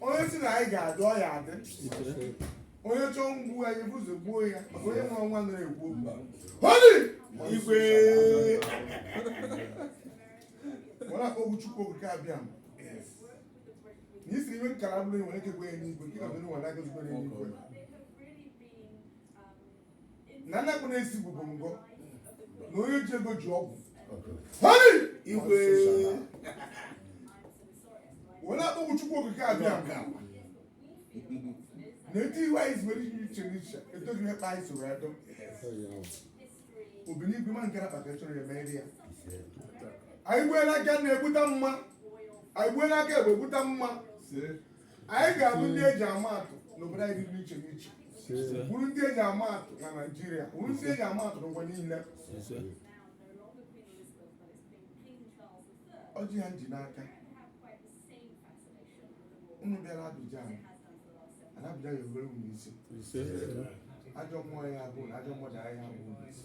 onye si na anyị ga-adị ọ ya adị onye chọọ igbu anyị bụzọ gbuo ya maka onye nwere nwa nara egbu mba holi igwe were akpọku chukwu okike abịama na isi iwe nkara bụrụ nwere ike gwe ya n'igwe nke ka bụrụ nwere aka zugbo ya n'igwe na nnakpụ na-esi bụ bụ ngọ na onye ji ego ji ọgwụ Hey! igwe wee na-akpọku chukwu okike abịama na eti iwe anyị zibere ihe iche n'iche etoghị ihe kpa anyị soro edo obi n'igwe ma nke na kpaka chọrọ ya mere ya anyị gbuela aka nri egbute mma anyị gbuela aka ekpe egbute mma anyị ga-abụ ndị eji ama atụ n'obodo anyị dị iche n'iche bụrụ ndị eji ama atụ na naijiria bụrụ ndị eji ama atụ n'ụwa niile ọjị a nji n'aka unu bịara Abidjan ana Abidjan ya obere unu isi ajọ mmụọ ya abụ na ajọ mmadụ anyị abụ unu isi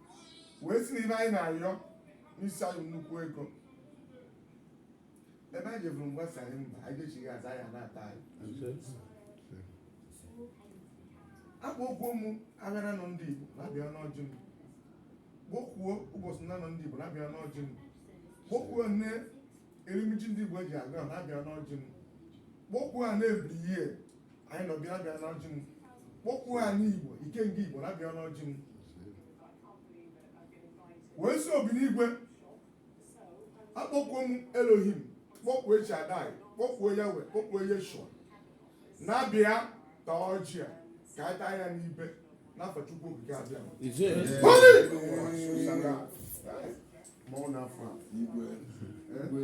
wee si n'ibe anyị na-ayọ n'isi anyị nnukwu ego ebe anyị jeburu mgbasa anyị mba anyị dechighị aza ya na-ata anyị akpọkwuo m ahịa n'anọ ndị Igbo na-abịa n'ọjị m kpọkwuo ụbọchị n'anọ ndị Igbo na-abịa n'ọjị m kpọkwuo nne erimiji ndị Igbo eji agụ ahụ na-abịa n'ọjị m kpọkwuo a na-ebiri ihe anyị nọ bịa bịa n'ọjị m kpọkwuo anị igbo ikenga igbo na bịa n'ọjị m wee si obi n'igwe akpọkwuo m elohim kpọkwuo shadai kpọkwuo yawe kpọkwuo yeshua na-abịa ta ọjị a ka anyị taa ya n'ibe n'afa chukwu okike abịama na-afọ a igwe igwe